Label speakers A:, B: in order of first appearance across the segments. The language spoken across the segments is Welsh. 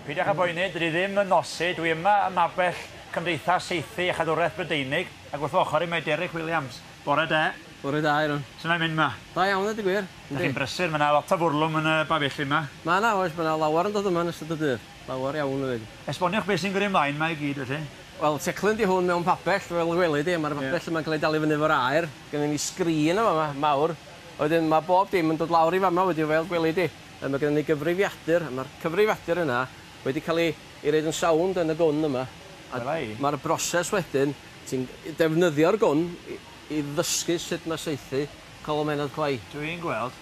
A: Peidiwch â boeni, dydw i ddim yn nosi, dwi yma ym mabell Cymdeithas Saethu a Chadwraeth Brydeinig, ac wrth fy ochr i mae Derek Williams. Bore da. Bore da, Aaron.
B: Sut mae'n mynd yma? Da
A: iawn, ddeud y gwir.
B: Dych chi'n brysur, mae yna
A: lot o fwrlwm yn y bafelli yma. Mae yna, oes, mae yna
B: lawer yn dod yma yn ystod y dydd. Lawer iawn yn mynd. Esboniwch beth sy'n gyrru
A: ymlaen yma i gyd, felly. Wel, teclyn 'di hwn
B: mewn pabell, fel y gweli di, a mae'r pabell yma'n cael ei dalu fyny efo'r aer. Gynnon ni sgrin yn fama, mawr, a wedyn ma' bob dim yn dod lawr i fama wedyn fel gweli di. A ma' gynnon ni gyfrifiadur, a ma'r cyfrifiadur yna wedi ca'l 'i 'i roid yn sownd yn y gwn yma. Wela i. Ma'r broses wedyn, ti'n defnyddio'r gwn i i ddysgu sut ma' saethu colomennod clai. Dwi'n gweld.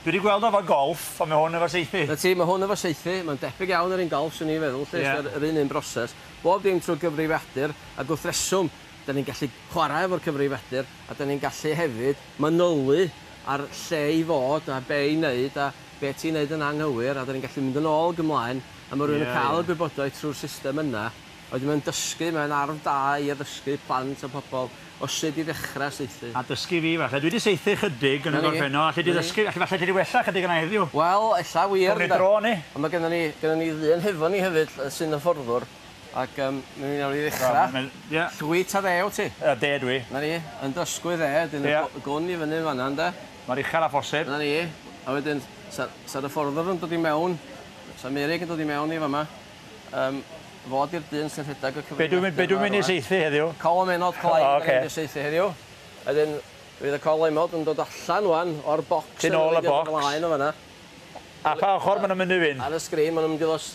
A: Dwi 'di gweld o efo golff, on' ma' hwn efo saethu. 'Na ti, ma' hwn efo saethu,
B: ma'n debyg iawn i'r un golff swn i'n feddwl 'lly. Ie. Yr un un broses. Bob dim trw gyfrifiadur, ag wrth reswm, Dan ni'n gallu chwarae efo'r cyfrifiadur a dan ni'n gallu hefyd manylu ar lle i fod a be' i wneud a be' ti'n wneud yn anghywir a dan ni'n gallu mynd yn ôl ag ymlaen a ma' rywun yn cael y gwybodaeth trwy'r system yna a wedyn mae'n dysgu, mae'n arf da i addysgu plant a pobl o sut i ddechrau saethu. A dysgu fi falle. Dwi 'di
A: saethu chydig yn y gorffennol, alli di ddysgu, alli falle alli di wella chydig yna heddiw? Wel, ella wir
B: ynde. Awn ni draw a ni. Ond ma'
A: gynnon ni, gynnon
B: ni ddyn hefo ni hefyd sy'n hyfforddwr Ac yym, mi wn i newn ni ddechra. Ia. Llwyt ta dde wt ti? Yy de dwi. 'Na ni,
A: yn dysgwyr
B: dde, wedyn y gw- y gwn i fyny yn fan 'na ynde? Mor uchel â phosib.
A: 'Na ni. A wedyn,
B: sa- sa'r hyfforddwr yn dod i mewn, sa Meirug yn dod i mewn i fa' 'ma, yym, fo 'di'r dyn sy'n rhedag y cyfrif... Be' dwi be' dwi myn' i saethu
A: heddiw? Colomennod Clyne... O
B: ocê. ...'dan ni myn' i saethu heddiw. A wedyn, fydd y colomod yn dod allan ŵan o'r bocs... Tu nôl y bocs. ...yn mynd i fod ymlaen
A: yn fan 'na. A pa ochor ma' nw'n mynd i fynd? Ar y sgrin, ma' nw'n mynd i ddos-